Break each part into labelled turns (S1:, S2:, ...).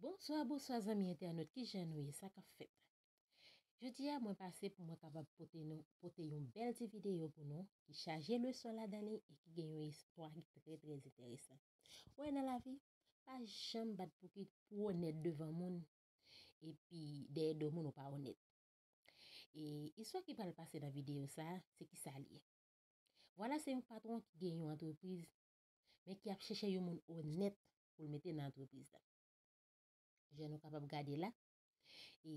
S1: Bonswa bonswa zanmi entènot kijan nou ye sa kap fèt Jodi a mwen pase pou mwen kapab pote nou pote yon bèl ti videyo pou nou ki chaje leson ladan li e ki gen yon istwa ki trè trè enteresan ou wè nan lavi pa janm bat pou ki pou onèt devan moun epi dèyè do moun ou pa onèt e istwa ki pral pase nan videyo sa se kisa li ye vwala se yon patwon ki gen yon antrepriz men ki ap chèchè yon moun onèt pou l mete nan antrepriz la. Jan nou kapab gade la, e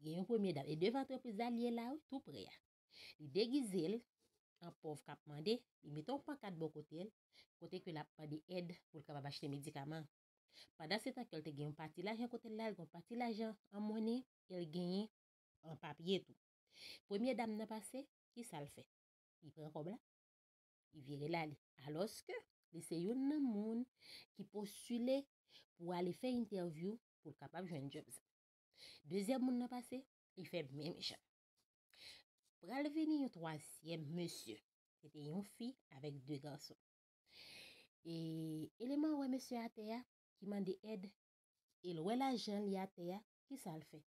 S1: gen yon premye dam, e devan antrepriz la li ye la wi, tou pre a. Li degize l an pòv k ap mande, li mete yon pankat bò kote l, kote ke l ap mande èd pou l kapab achte medikaman. Pandan se tan ke l te gen yon pati lajan kote l la, l gen yon pati lajan an monnen, e l genyen an papye tou. Premye dam nan pase, ki sa l fè? Li pran kòb la, li vire l ale. Alòske, li se youn nan moun ki postile pou ale fè entèvyou pou l kapab jwenn djòb sa. Dezyèm moun nan pase, li fè menm jan. Pral vini yon twazyèm mesye, se te yon fi avèk de gason. E, eleman wè mesye atè a ki mande èd e l wè lajan li atè a, ki sa l fè?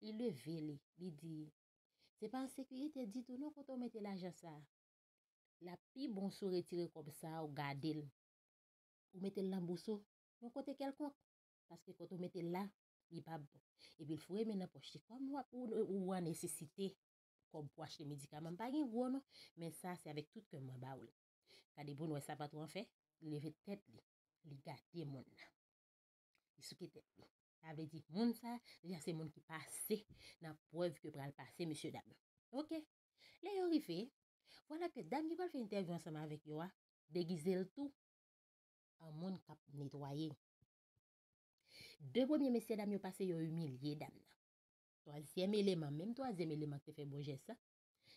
S1: Li leve li, li di, Se pa ensekirite ditou non kote w mete lajan sa a. lap pi bon si w retire kòb sa a ou gade l, ou mete l nan bous ou, yon kote kèlkonk, paske kote ou mete l la, li pa bon. Epi l foure men nan pòch li. Kòm wap ou an nesesite kòb pou achte medikaman, m pa gen gwo non, men sa a se avèk tout kè m mwen ba ou l. Gade pou n wè sa patwon an fè, li leve tèt li, li gade moun nan. Li souke tèt li. Sa vle di moun sa a, deja se moun ki pase nan prèv ke pral pase mesye dam yo. Ok, Lè yo rive, vwala ke dam ki pral fè entèvyou ansanm avèk yo a degize l tou an moun k ap netwaye. De premye mesyedam yo pase yo imilye dam nan. Twazyèm eleman, menm twazyèm eleman ki te fè bon jès la,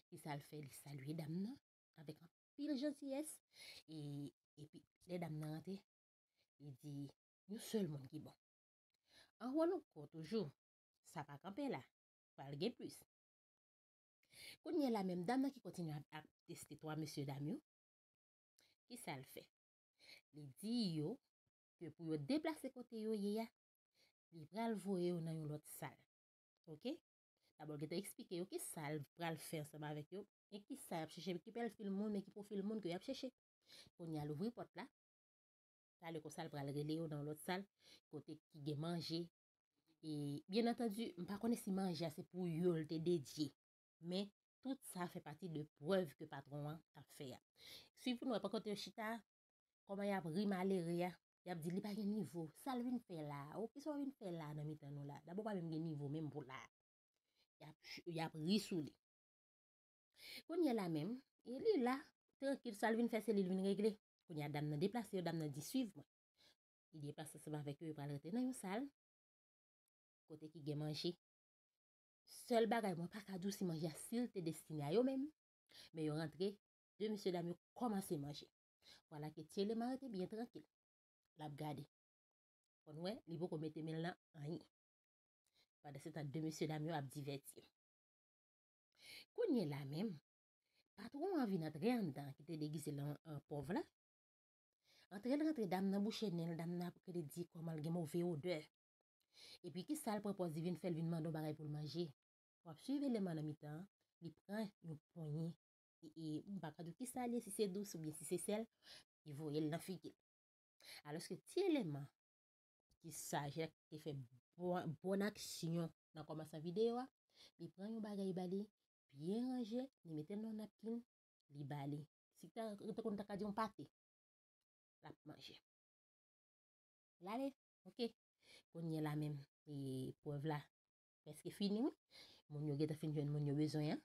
S1: ki sa l fè? Li salye dam nan avèk anpil jantiyès e epi lè dam nan rantre, li di, Yon sèl moun ki bon. An wòlonko toujou, sa pa kanpe la, pral gen plis. Kounyela menm dam nan ki kontinye ap ap teste 3 mesye dam yo, kisal fè? Li di yo ke pou yo deplase kote yo ye a, li pral voye yo nan yon lòt sal. Ok. Dabò l gentan eksplike yo kisal pral fè ansanm avèk yo e kisa yap chèche, ki pèlfil moun e ki pwofil moun ke yap chèche. Kounyea l ouvri pòt la, talè konsa l pral rele yo nan yon lòt sal kote ki gen manje, E, byen antandi, m pa konnen si manje a se pou yo l te dedye. Men, tout sa fè pati de prèv ke patwon an t ap fè a. Suiv pou nou wè, pa kote yo chita, kòman y ap ri malere a, y ap di li pa gen nivo, sa l vin fè la a, o, ki sa w vin fè la a nan mitan nou la a? Dabò w pa menm gen nivo menm pou la a. Y ap, y ap ri sou li. Kounye la menm, e li la, trankil, sa l vin fè se li l vin regle. Kounye a dam nan deplase yo, dam nan di, suiv mwen. Li deplase ansanm avèk yo, yo pral rantre nan yon sal kote ki gen manje. Sèl bagay mwen pa ka di w si manje a si l te destine a yo menm, men yo rantre, de mesye dam yo kòmanse manje. Vwala ke Tyelema rete byen trankil, l ap gade. Fò n wè, li poko mete men l nan anyen. Pandansetan de mesye dam yo ap divèti yo. Kounyela menm, patwon an vin antre anndan ki te degize l an pòv la, Antrel rantre dam nan bouche nenl dam nan ap rele di komanl gen move odè epi kisal pran pòz li vin fèl vin mande yon bagay poul manje wap swiv eleman nan mitan an li pran yon ponyen e mpaka diw kisal ye si se dous oubyen si se sèl li voyel nan figil aloske ti eleman ki saj la te fè bon aksyon nan komansan video a li pran yon bagay bali byen ranje li metel nan yon napkin li bali Si ta rete konn ta ka di yon pate. Lap manje. Lale, ok. Kounye la menm, e preuve la preske fini wi. Moun yo gentan fin jwenn moun yo bezwen an.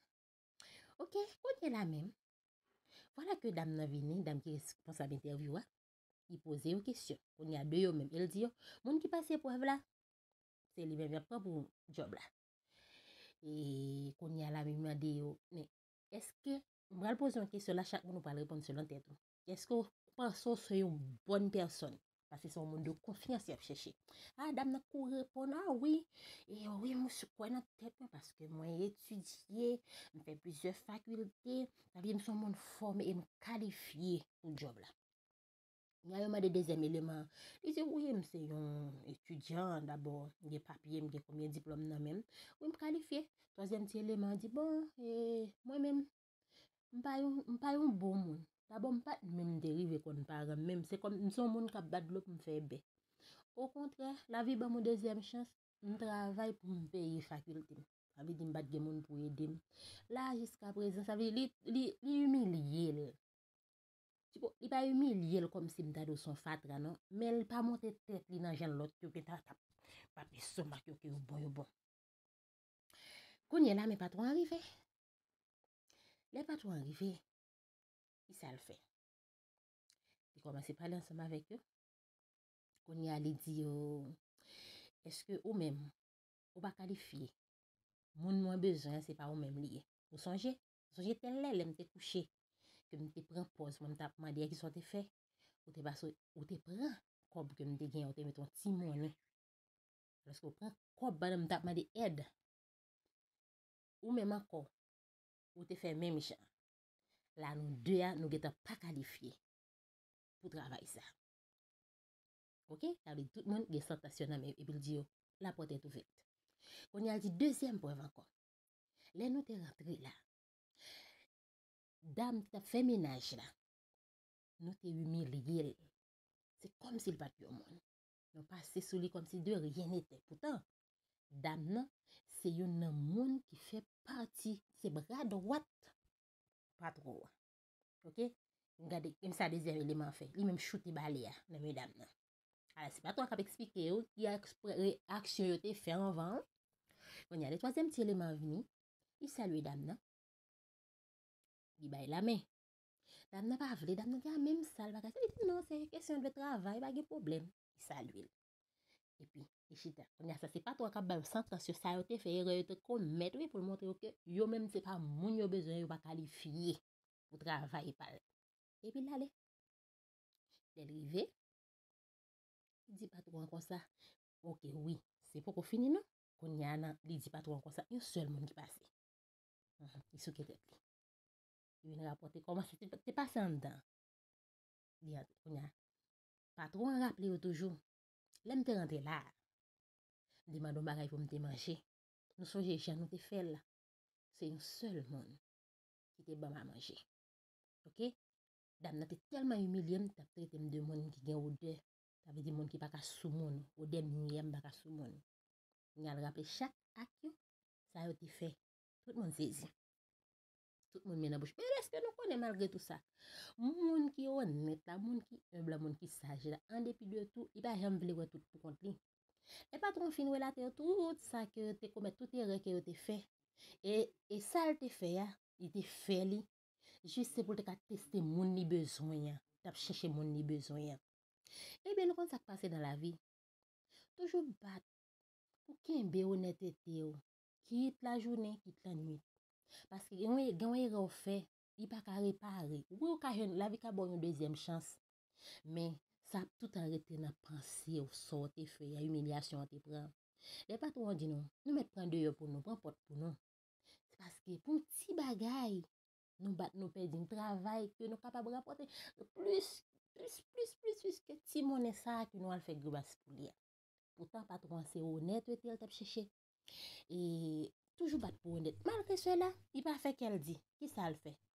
S1: Ok, kounye la menm. Vwala ke dam nan vini, dam ki responsab entèvyou a. Li poze yo kesyon. Kounye a de yo menm. E l di yo, moun ki pase preuve la, se li menm yap pran pou job la. E kounye a la menm mande yo, men eske M pral poze yon kesyon la chak moun ou pral reponn selon tèt ou. Eske ou panse ou se yon bòn pèsòn? Pase se yon moun de konfyans y ap chèche. A, dam nan kouri reponn, a wi, e wi mwen si kwè nan tèt mwen paske mwen etidye, m fè plizyè fakilte, sa vle di m se yon moun fòme e m kalifye pou djòb la. Lè yo mande dezyèm eleman an, li di, Wi, m se yon etidyan dabò, m gen papye, m gen konbyen diplòm nan men m, wi m kalifye. Twazyèm ti eleman an di, Bon, e mwen menm, m pa yon, m pa yon bon moun. Dabò m pa t menm te rive konn paran m, menm se kòm m se yon moun k ap bat dlo pou m fè bè. Okontrè, lavi ban m yon dezyèm chans, m travay pou m peye fakilte m. Sa vle di m pa t gen moun pou ede m. La a jiskaprezan, sa vle di li, li imilye l. Tipo, li pa imilye l kòmsi m ta di w se yon fatra non, men li pa monte tèt li nan jan lòt yo gentan t ap bat lestomak yo ke yo bon yo bon. Kounye la men patwon an rive. Lè patwon an rive, ki sa l fè? Li kòmanse pale ansanm avèk yo. Kounye a li di yo, Èske ou menm ou pa kalifye? Moun mwen bezwen an se pa ou menm li ye. Ou sonje? Sonje tèl lè, lè m te kouche, ke m te pran pòz mwen m t ap mande a kisa w te fè, ou te pase ou te pran kòb ke m te gen an ou te mete yon ti monnen. Alòske ou pran kòb ban m m t ap mande èd. Ou menm ankò, ou te fè menm jan. La nou de a nou gentan pa kalifye pou travay sa. Ok, sa vle di tout moun gen santans yo nan men yo epi l di yo, la pòt est ouverte. Kounye a l di dezyèm prèv ankò. Lè nou te rantre la, dam ki t ap fè menaj la, nou te imilye l. Se kòmsi l pa t yon moun. Nou pase sou li kòmsi de ryen netè. Poutan, dam nan se youn nan moun ki fè pati, se bra dwat patwon an. Ok? Gade, menm sa dezyèm eleman an fè. Li menm choute bale a nan men dam nan. Ala se pa twa kap eksplike yo ki aksyon yo te fè anvan an. Konya le twazyèm ti eleman an vini, li salye dam nan, li bay lamen. Dam nan pa vle, dam nan di a menm sa, li pa ka sa. Li di non, se kesyon de travay, pa gen pwoblèm. Li salye l. Epi, li chita. Konya sa se pa twa kap ba yo santans yo, sa yo te fè, erè yo te komèt wi pou l montre yo ke yo menm se pa moun yo bezwen, yo pa kalifye pou travay pa l. Epi l ale. Lè l rive, li di patwon an konsa, Ok wi, se poko fini non. Kounye a nan, li di patwon an konsa, yon sèl moun ki pase. Li souke tèt li. Li vin rapòte kòman sa te pase anndan. Li antre kounye a. Patwon an raple yo toujou, Lè m te rantre la a, m te mande yon bagay pou m te manje. Nou sonje jan nou te fè l? Se yon sèl moun ki te ban m a manje. Ok? Dam nan te tèlman imilye m, t ap trete m de moun ki gen odè, sa vle di moun ki pa ka sou moun, odè miyè m pa ka sou moun. Li al raple chak ak yo sa yo te fè. Tout moun sezi. Tout moun men nan bouch. Men èske nou konnen malgre tou sa, moun ki onèt la, moun ki enb la, moun ki saj la, an depi de tou, li pa janm vle wè tout pou kont li. Lè patwon an fin relate yo tout sa ke yo te komèt, tout erè ke yo te fè, e sa l te fè a, li te fè li Jis se pou l te ka teste moun li bezwen an, l ap chèche moun li bezwen an. Ebyen nou konn sa k pase nan lavi. Toujou bat pou kenbe onètete w, kit lajounen, kit lannuit. Paske gen yon erè w fè, li pa ka repare. Wi ou ka jwenn, lavi ka ba w yon dezyèm chans, men sa ap toutan rete nan panse w, sa w te fè a, imilyasyon w te pran. Lè patwon an di nou, nou mèt pran deyò pou nou, pran pòt pou nou. Se paske pou ti bagay, nou bat nou pèdi yon travay ke nou kapab rapòte plis, plis, plis, plis, plis ke ti monnen sa a ke nou al fè gribas pou li a. Poutan patwon an se onètete l t ap chèche. E toujou bat pou onèt. Malgre sela, li pa fè kè l di. Kisa l fè?